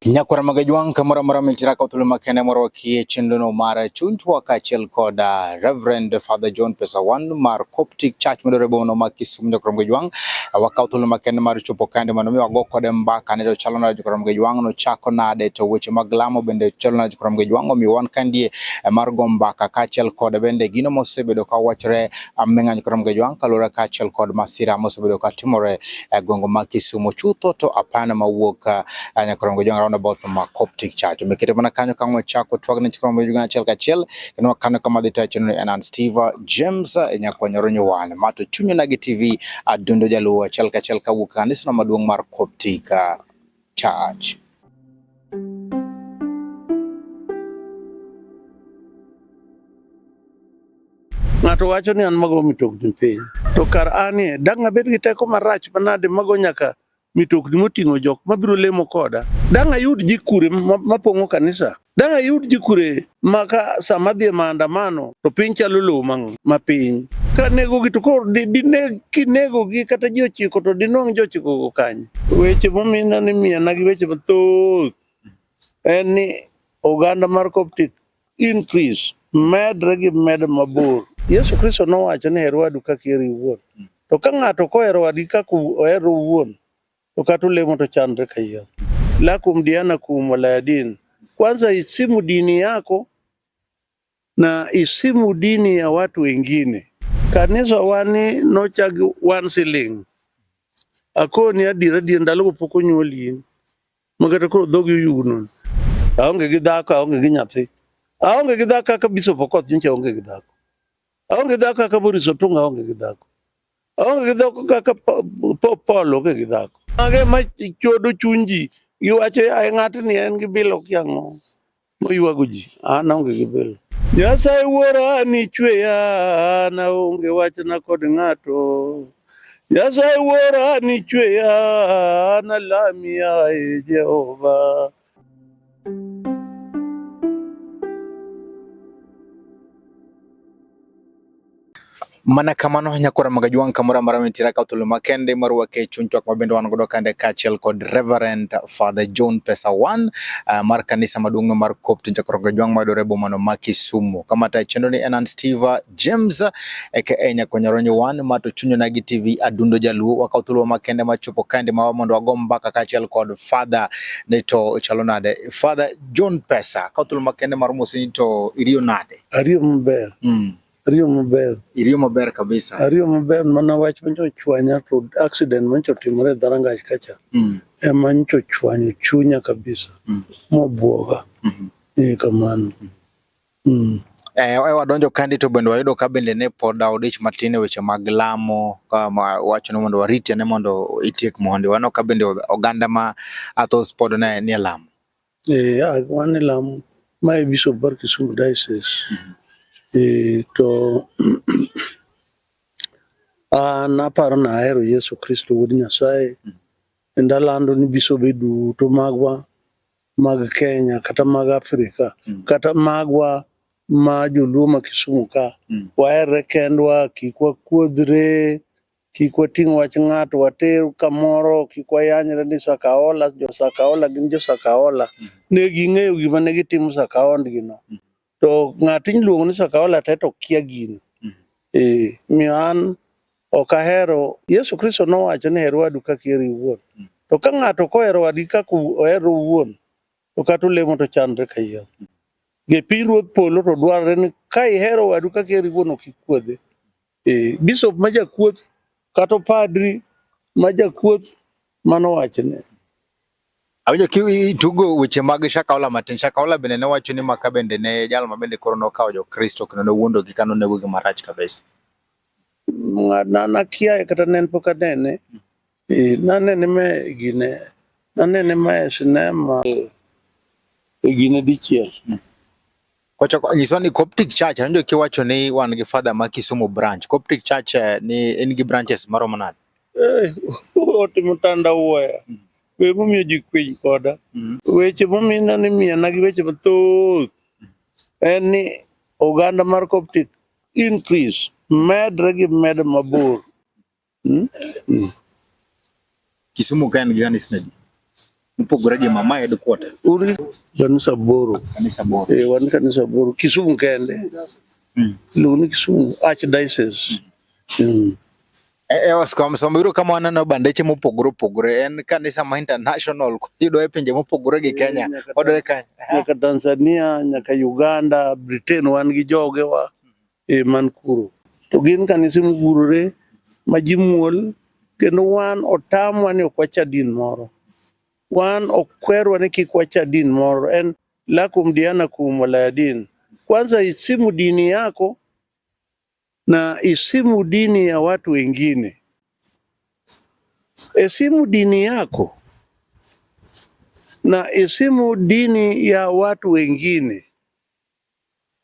nyakwara maga jwang' kamoro amora michira ka thuolo makende moro kie chenrono mar chunywa kaachiel kod uh, Reverend Father John Pesawan mar Coptic Church midore bono ma Kisumu nyakwara maga jwang' uh, wakawo thuolo makende mar chopo kande mondo mi wago kode mbaka ne to chalo nade nyakwara maga jwang' nochako nade to weche mag lamo bende chalo nade nyakwara maga jwang' omiyo wan kandie uh, mar go mbaka kaachiel kod bende gino mosebedo ka wachore ming'anyo kata mgejwang' kaluwore kaachiel kod masira mosebedo ka timore e gwenge ma Kisumo chutho to apana mawuok eh, nyaka kata mgejwang' roundabout ma Coptic Church. Omeketo mana kanyo ka ng'we chako twag ne chikon mgejwang' achiel kachiel kendo kanyo kama dhi tayo chenro en Steve James eh, nyakwanyoro nyuwan mato chunyo na gi TV adundo jaluo achiel kachiel kawuok kanisno maduong' mar Coptic charge. Ng'ato wacho ni an mago mitokni piny. To kar anie, dang' abed gi teko marach manade mago nyaka mitokni moting'o jok mabiro lemo koda. Dang' ayud ji kure mapong'o kanisa? Dang' ayud ji kure ma ka sama adhi e maandamano to piny chalo lowo ma piny. Ka negogi to koro kinegogi kata ji ochiko to dinwang' ji ochikogo kanye? Weche momina ni miyana gi weche mathoth en ni oganda mar Coptic increase medre gi med mabor. Yesu Kristo nowacho ni her wadu kaka eri iwuon. To ka ng'ato ok ohero wadgi kaka ohero owuon, To kata olemo to chandre ka yien. Lakum dianakum wala din. Kwanza isimu dini yako na isimu dini ya watu wengine. Kanisa wani nochag one siling. Akoni adira dien ndalo pok onyuoli in. Makata koro dhogi oyugno. Aonge gi dhako, aonge gi nyathi. Aonge gi dhako kaka Bishop Okoth nyicha aonge gi dhako. Aonge dhako kaka Boris Otunga aonge gi dhako. Onge gi dhoko kaka Paul onge gi dhako. Mage ma chodo chuny ji giwacho yaye ng'atni en gi bilo kiang'o moywago ji an onge gi bilo. Nyasaye wuora nichweya an aonge wachna kod ng'ato. Nyasaye wuora nichweya an alami yaye Jehova. mana kamano nyakora maga jwang' kamoro amora mitira ka thuolo makende mar wake chuny twak mabende wan godo kande kaachiel kod Reverend Father John Pesa One uh, mar kanisa maduong'no mar Coptic nyakora maga jwang' mayudore e bomano ma Kisumu. Kama tayo chenro ni en an Steve James aka Nyakonyaronyo wan ma to chunyo nagi TV adundo jaluo wakaw thuolo makende machopo kande mawa mondo wago mbaka kaachiel kod father ne to chalo nade father John Pesa kaw thuolo makende mar mosini to iriyo nade ariyo maber mm. ariyo maber iriyo maber kabisa ariyo maber mana wach manyo chwanya to accident manyo timore dharangach kacha mm. ema nyo chwanyo chunya kabisa mm. mobwoga mm -hmm. ni kamano mm -hmm. Mm. Eh, wadonjo kandi to bende wayudo ka bende ne pod odich matin e weche mag lamo ka wacho ni mondo warit ane mondo itiek mondi wano ka bende oganda ma athos pod ne nie lamo eh wan e lamo ma e bishop bar Kisumu diocese mm -hmm. eh to an ah, aparo na ahero Yesu Kristo wuod Nyasaye mm -hmm. enda lando ni bisobe duto magwa mag Kenya kata mag Afrika mm. kata magwa ma joluo ma Kisumu ka mm. waherre kendwa, kik wakuodhre, kik wating' wach ng'ato water kamoro, kik wayanyre ni Sakaola, jo Sakaola gin jo Sakaola. Mm. Ne ging'eyo gima ne gitimo Sakaondgino. Mm. To ng'at iluongo ni Sakaola te to kia gino. Mm. Eh, miyo an ok ahero Yesu Kristo nowacho ni her wadu kaka iheri iwuon. Mm. To ka ng'ato kohero wadgi kaka ohero owuon, to kata olemo to chandre kayiem. Mm. Gi pinyruodh polo to dwarore ni ka ihero wadu kaka iheri iwuon ok ikuodhe. E, bishop ma jakuoth kata padri ma jakuoth mano wachne. Awinjo kitugo weche mag Shakaola matin. Shakaola bende ne wacho ni maka bende ne jal ma bende koro nokawo Jokristo kendo nowuondogi ka nonegogi marach kabisa. Ng'adna nakiaye kata ne en pok anene. Eh, nanene me gine nanene me sinema eh, e gine dichiel hmm. Kochoko nyiswa ni Coptic Church anjo kiwacho ni wan gi father ma Kisumu branch. Coptic Church eh, ni en gi branches maromo nade? Eh, ote mutanda uwaya. Hmm. We mumiyo ji kwiny koda. Hmm. Weche mumina ni miya na gi weche mathoth. En ni oganda mar Coptic increase medre gi medo mabor. Hmm? Hmm. Kisumu ka en gi kanisa adi? Mopogore gi mama headquarter. Uri kanisa boro. Kanisa boro. Eh, wan kanisa boro. Kisumu kende. Mm. Lugu ni Kisumu Archdiocese. Mm. Mm. Eh, eh, Oscar Msomba yudo kama waneno bandeche mopogore opogore en kanisa ma international yudore e pinje mopogore gi Kenya odore Kenya nyaka Tanzania nyaka Uganda Britain wan gi joge wa e man kuro. To gin kanise mogurore ma ji muol kendo wan otamwa ni ok wacha din moro. Wan ok kwerwa ni kik wacha din moro. En lakum dianakum wala din. Kwanza isimu dini yako na isimu dini ya watu wengine. Esimu dini yako na isimu dini ya watu wengine.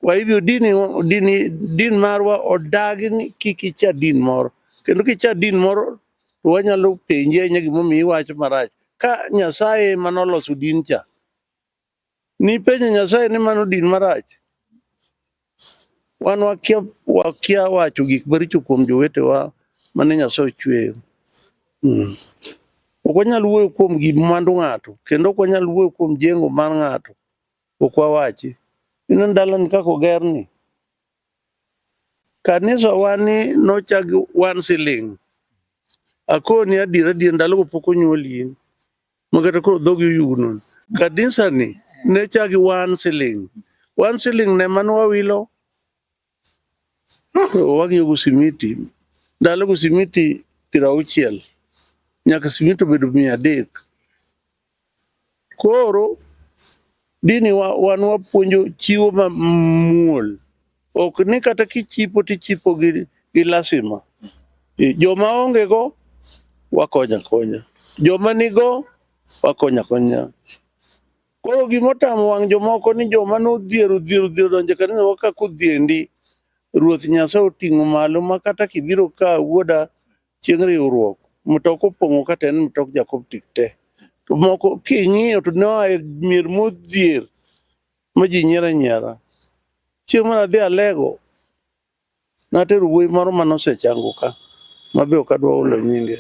Kwa hivyo dini, dini, din marwa odagi ni kik icha din moro kendo kicha din moro to wanyalo penje ahinya gimomiyo iwacho marach ka Nyasaye ema noloso din cha nipenjo Nyasaye ni mano din marach wan wakia, wakia wacho gik maricho kuom jowetewa mane Nyasaye ochweyo mm. ok wanyal wuoyo kuom gimwandu ng'ato kendo ok wanyal wuoyo kuom jengo mar ng'ato ok wawachi. Ineno ndalani kaka ogerni, kanisawa ni nochak gi one siling. Akoni adiera adiera ndalogo pok onyuoli in ma kata koro dhogi oyugno. Kanisani ne chak gi one siling, one siling no ema ne wawilo Wang'iyo go simiti, ndalo go simiti piero auchiel nyaka simiti obedo mia adek. Koro dini wa, wan wapuonjo chiwo ma muol, ok ni kata kichipo tichipo gi, gi lasima. E, Joma onge go wakonya konya, joma nigo wakonya konya. Koro gima otamo wang' jomoko ni joma nodhier odhier odhier odonjo e kanisa wa kaka odhiendi. Ruoth Nyasaye oting'o malo ma kata kibiro ka wuoda chieng' riwruok, mtoka opong'o kata en mtok Jakoptik te. To moko king'iyo to ne oa e mier modhier ma ji nyiero anyiera. Chieng' moro adhi Alego, Natero wuoyi moro mane osechango ka mabe ok adwa hulo nyinge.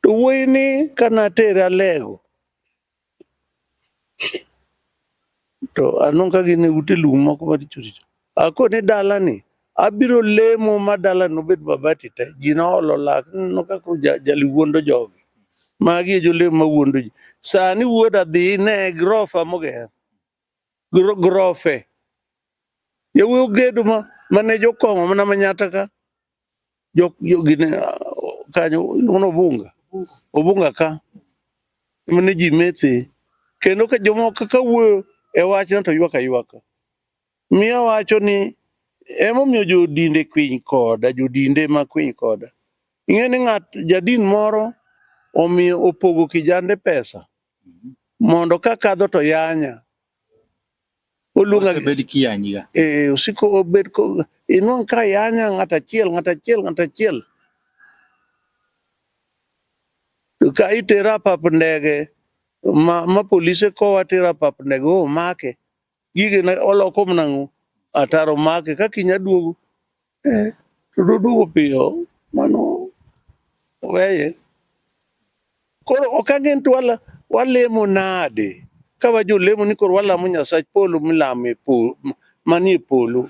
To wuoyi ni ka natere Alego to anong' ka gin e ute lum moko maricho richo. Akone dalani abiro lemo ma dalani nobed mabati te. Ji noolo lak ni ineno ka koro ja- jali wuondo jogi. Magi e jolemo mawuondo ji. Sani wuoda dhi ine grofa moger. grofe yawuoyi ogedo ma mane jokong'o mana manyata ka jok jogine kanyo iluongo obunga obunga ka mane ji methe kendo ka jomoko kaka wuoyo e wachno to ywak aywaka miyo wacho ni emomiyo jodinde kwiny koda jodinde ma kwiny koda ing'e ni ng'at jadin moro omiyo opogo kijande pesa mondo ka kadho to yanya oluonga bed kiyanyiga eh osiko obed ko inwang ka yanya ng'ata chiel ng'ata chiel ng'ata chiel ka itera pap ndege ma, ma polise kowa tera pap ndege omake gige na oloko mnango ataro make ka kinya duogo eh to duogo piyo mano weye koro ok angen to wala walemo nade ka wajo lemo ni koro walamo nyasach polo milame polo manie polo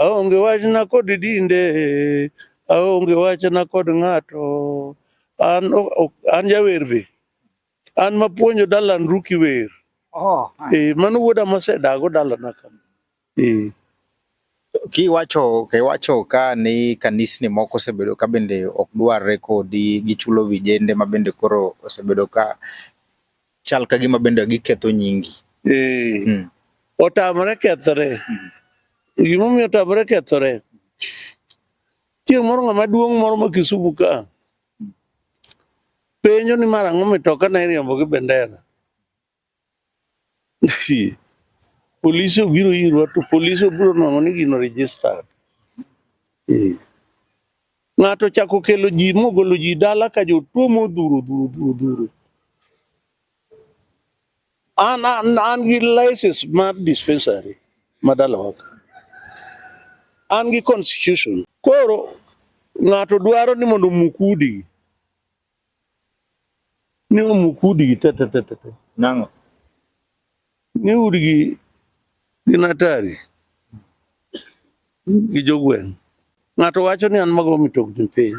Aonge wachna kod dinde, aonge wachna kod ng'ato. An, an jawer be. An mapuonjo Dalan Ruki wer. Oh, eh, mano wuoda mosedago dalana ka. Eh. Kiwacho kiwacho ka ni kanisni moko osebedo ka bende ok dwarre kodi gichulo vijende ma bende koro osebedo ka chal ka gima bende giketho nyingi. Eh. Hmm. Otamore kethore. Hmm. Gima omiyo otamore kethore. Chieng' moro ng'ama duong' moro ma Kisumu ka hmm. penjo ni mar ang'o mitoka na iriembo gi bendera. Polisi obiro irwa to polisi obiro nono ni gino registered. Eh. Ng'ato chako kelo ji mogolo ji dala ka jotuo modhuro dhuro dhuro dhuro. An, an, an gi license mar dispensary ma dalawa ka. An gi constitution. Koro ng'ato dwaro ni mondo omuk udi. Ni omuk udigi te te te te. Nang'o? Ni udigi gin atari gi jogweng'. Ng'ato wacho ni an mago mitokni piny.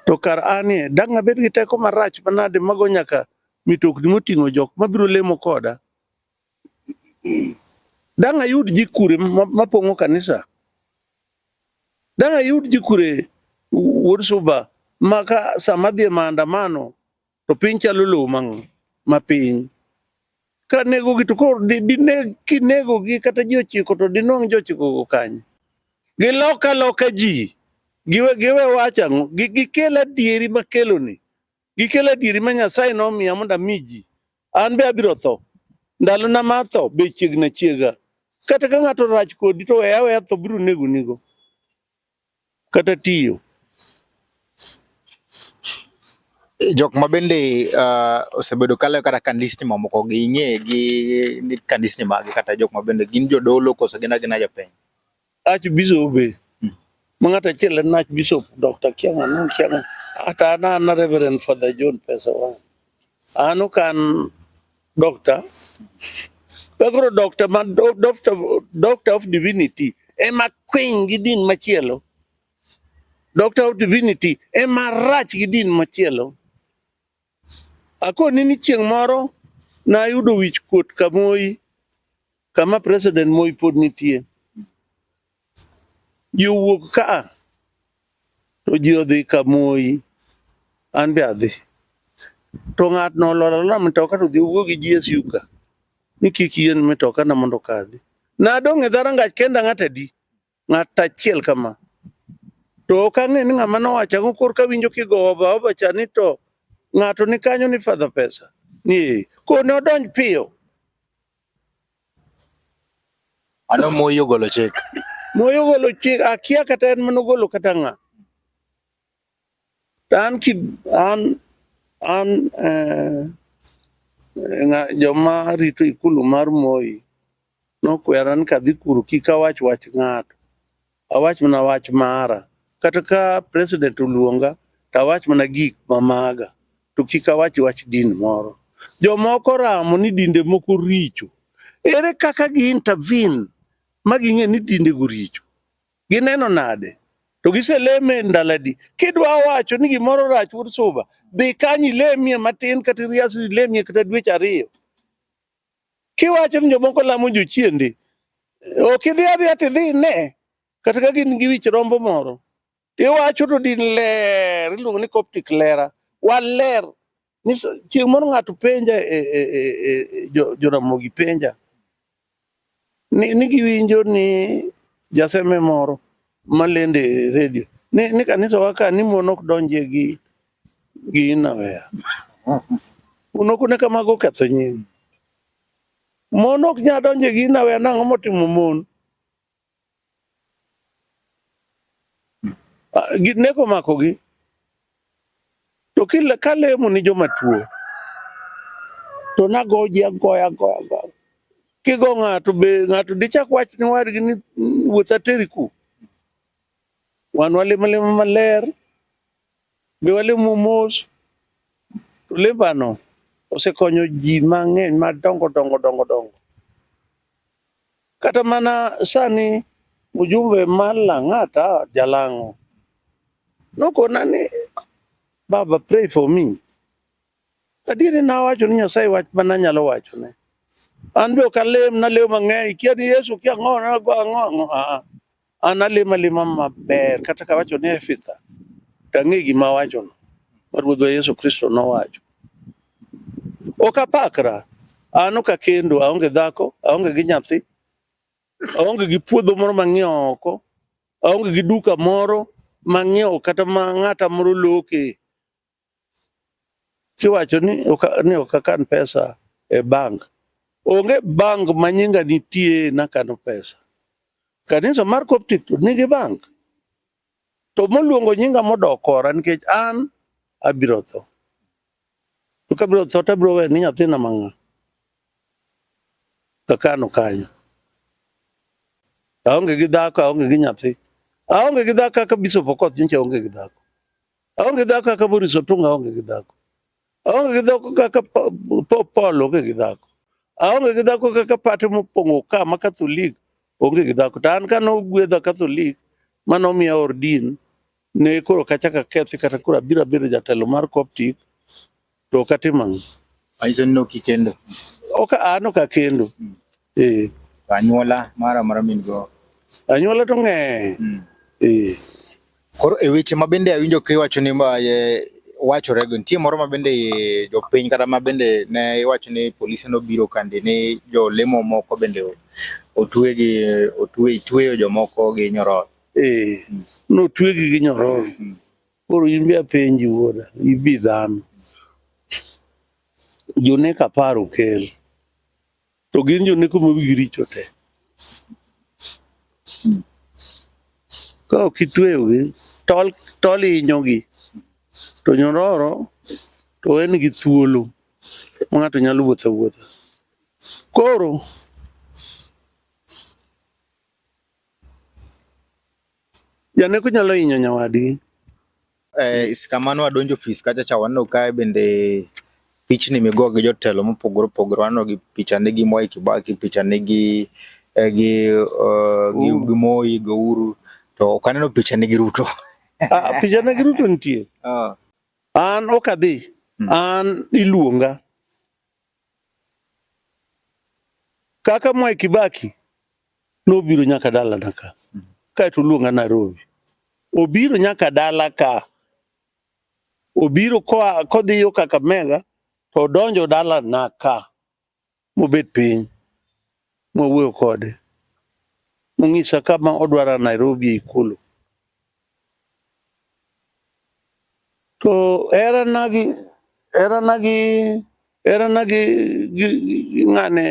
To kar anie, dang' abed gi teko marach manade mago nyaka mitokni moting'o jok mabiro lemo koda Dang' ayud ji kure ma- mapong'o kanisa? Dang' ayud ji kure wuod suba ma ka sama dhi e maandamano to piny chalo lowo mang' ma piny. Ka negogi to koro di- dineg kinegogi kata ji ochiko to dinwang' ji ochikogo kanye? Gilok aloka ji, giwe giwe wach ang'o? Gi- Gikel adieri makeloni Gikelo adieri ma Nyasaye nomiya mondo ami ji. An be abiro tho. Ndalona mar tho be chiegna chiega. Kata ka ng'ato rach kodi to weya weya tho biro negonigo. Kata tiyo. jok ma bende uh, osebedo kale kata kandisni mamoko gi ing'e gi ni kandisni magi kata jok ma bende gin jodolo koso gin agina jopiny Archbishop be ma ng'ato achiel en Archbishop Dr. Kianga no Kianga hata an an Reverend Father John Pesa Wang. An ok an doctor. Kagoro doctor ma do- doctor doctor of divinity ema kwiny gi din machielo. Doctor of divinity ema rach gi din machielo. Akoni ni chieng' moro nayudo wich kuot Kamoi kama President Moi pod nitie. Ji owuok ka to ji odhi Kamoi, an be adhi. To ng'atno olor alora mtoka to dhi owuo gi GSU ka ni kik yien mtokana mondo okadhi. Nadong' e dhorangach kenda ng'at adi? Ng'at achiel kama. To ok ang'e ni ng'ama nowacho ang'o kor kawinjo kigowo baoba cha ni to ng'ato ni kanyo ni fadha pesa. Ni kone odonj piyo. Ano moyo golo chik. Moyo golo chik akia kata en manogolo kata ng'a. An, an, an eh, eh joma rito ikulu mar Moi nokwera ni kadhi kuru kik awach wach ng'ato, awach mana wach mara. Kata ka president oluonga to awach mana gik mamaga to kik awach wach din moro. Jomoko ramo ni dinde moko richo, ere kaka gi intervene ma ging'e ni dinde go richo? Gineno nade? To giseleme e ndaladi. Kidwa wacho ni gimoro rach wuod suba, dhi kanyo ilemie matin kata irias ilemie kata dweche ariyo. Kiwacho ni jomoko lamo jochiende, ok idhi adhiya to idhi ine kata ka gin gi wich rombo moro. Iwacho to din ler, iluongo ni Coptic lera. Waler Chieng' moro ng'ato penja e, e, e, e Joramogi jo penja ni, ni giwinjo ni jaseme moro malende e redio ni, ni kanisa waka ni mon ok donje gi gi inaweya un ok ne kamago oketho nying mon ok nyal donje gi inaweya nang'o motimo mon Ah, neko omakogi to kila kalemo ni joma tuo to nagoji agoya agoya agoya kigo ng'ato be ng'ato dichak wach ni wadgi ni wuoth ateri ku wan walemo lemo maler be walemo mos to lembano osekonyo ji mang'eny madongo dongo dongo dongo Kata mana sani mjumbe mar Lang'ata Jalang'o nokona ni baba pray for me. Adieri nawacho ni Nyasaye wach ma nanyalo wachone. An be ok alem, nalemo mang'eny, kia ni Yesu kia ang'o, nago ang'o ang'o. Aa, An alima lima maber kata ka wacho ni Efitha to ang'e gima awachono ma Ruodhwa Yesu Kristo nowacho. Ok apakra, an ok akendo, aonge dhako, aonge gi nyathi, aonge gi puodho moro mang'iewo oko, aonge gi duka moro mang'iewo kata ma ng'ata moro loke. kiwacho ni ni ok akan pesa e bank, onge bank ma nyinga nitie nakano pesa. Kanisa mar Coptic to nigi bank, to moluongo nyinga modok kora nikech an abiro tho. To kabiro tho to abiro wene nyathina mang'a kakano kanyo. Aonge gi dhako, aonge gi nyathi. Aonge gi dhako kaka Bishop Okoth nyicha aonge gi dhako. Aonge dhako kaka Morris Otunga aonge gi dhako. Aonge gi dhako kaka Pope Paul onge gi dhako. Aonge gi dhako kaka pate mopong'o ka ma Katholik onge gi dhako. To an ka nogwedha Katholik ma nomiya ordin ne koro kachaka kethi kata koro abiro abedo jatelo mar Coptic to ok atimo ang'o? Manyiso ni ok ikendo. Ok an ok akendo. Mm. Eh. Anyuola mara mara min go. Anyuola to ng'eny. Mm. Eh. Koro e weche ma bende awinjo kiwacho ni eh, wachore go nitie moro ma bende jopiny kata ma bende ne iwacho ni polise nobiro kandi ni jolemo moko bende otwe gi otwe tweyo jomoko gi nyororo. Eh. Mm. Notwegi gi nyororo. Mm. Koro in be apenji wuoda, ibi dhano. Jonek apar okel. To gin joneko ma wigi richo te. Ka ok itweyogi, tol, tol inyogi. To nyororo to en gi thuolo ma ng'ato nyalo wuotho awuotha. Koro Janeko nyalo hinyo nyawadgi. Eh, kamano wadonjo ofis kacha cha waneno kae bende pichni migo gi jotelo mopogore opogore waneno gi pichane gi Mwai Kibaki, pichane gi eh, gi eh, gi, Uhuru. gi Moi, gi Uhuru to ok aneno pichane gi Ruto. Ah, pichana gi Ruto nitie. Ah, An ok adhi. Mm. An iluonga. Kaka Mwai Kibaki nobiro nyaka dalana ka kaeto oluonga Nairobi, obiro nyaka dala ka, obiro koa kodhi yo Kakamega to odonjo dalana ka mobet piny. mwawuoyo kode monyisa kama odwara Nairobi e Ikulu. To herana gi herana gi herana gi gi gi ng'ane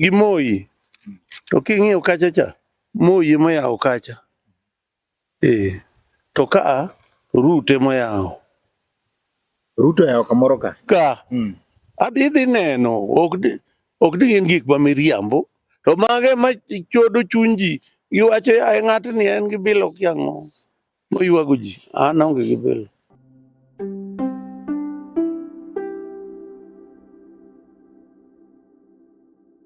gi Moi to king'iyo kacha cha Moi ema oyawo kacha. Ee, to ka a Ruto emoyawo. Ruto oyawo kamoro ka. Ka. Mm. Adhi dhi neno, ok di, ok di gin gik ma miriambo. To mage ma chodo chuny ji, giwacho yaye ng'atni en gi bilo kiang'o. Moywago ji, an aonge gi bilo.